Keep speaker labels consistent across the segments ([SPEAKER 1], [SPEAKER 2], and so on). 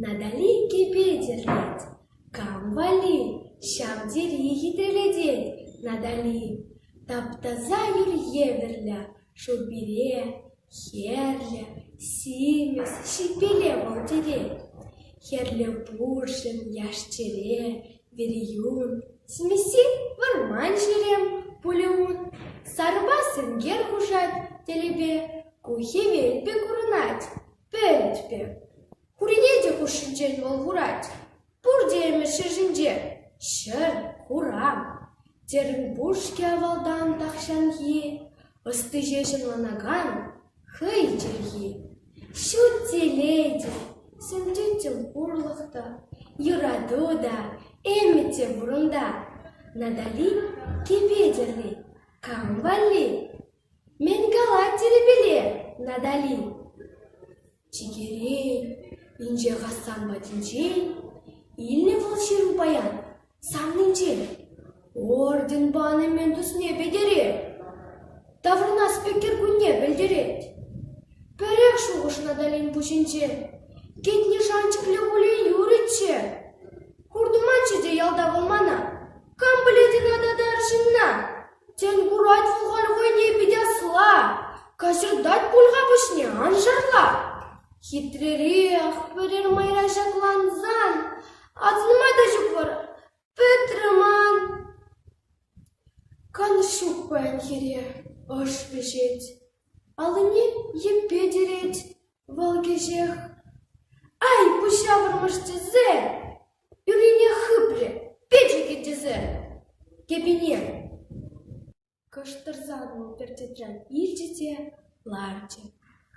[SPEAKER 1] Натали иккӗпе тертет. Кам валли? Ҫав тери хитӗлетет Натали. Таптаса юр евӗрлӗ шур пире, хӗрлӗ, симӗс, ҫилпеле вӑл тӗлет. Хӗрлӗ пурҫӑн яш-чӗре, Вериюн, Смеси вӑрман ҫерем пулӗ ун, сарӑпа сенкер хушать тӗлӗпе, ку хӗвел пек курӑнать, пӗлӗт пек. Хурине те хушшинчен вӑл курать. Пурте ӗмӗшӗ ҫинче ҫӗр, хуран. Терӗн пушке авалтан тахҫанхи, ӑсти ҫеҫ ӑнланакан Хӑй чӗлхи ҫут телейте, сӗнчӗччӗ пурлӑх та, юрату та, ӗмӗччӗ пурӑнта. Натали кӗпе-тӗрри кам валли? Мӗн калать тӗрепеле Натали? Чикерен, инҫе Хасан патӗнчен илнӗ вӑл ҫыру паян. Саннинчен орден пани мӗн тусне пӗтерет, таврӑнас пек кӗркунне пӗлтерет. Пӗрех шухӑш Наталин пуҫӗнче. Кӗтне шанчӑклӗ Улей юрӗччӗ. Хуртӑманччӗ те ялта вӑл мана. Кам пӗлет ӑна тата ар ҫынна? Тен, курать сухан хӑйне пит асла, каҫӑртать пуль-ха пуҫне, ан шарла. Хитререх пӗрер майра ҫаклансан Асӑнма та ҫук вара, пӗтрӗ ман. Канӑҫ ҫук паян хире, ӑш вӗҫет. Аллине йӗппе тӗрет вӑл кӗҫех. Ай, пуҫа вӑрмӑш тӗсе! Ӳрине хыпрӗ, печӗкӗ тӗсе! Кӗпине! кӑштӑрсан вӑл пӗрчӗтрен илчӗ те ларчӗ.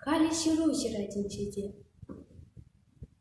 [SPEAKER 1] Халӗ ҫыру ҫыратӗнче те.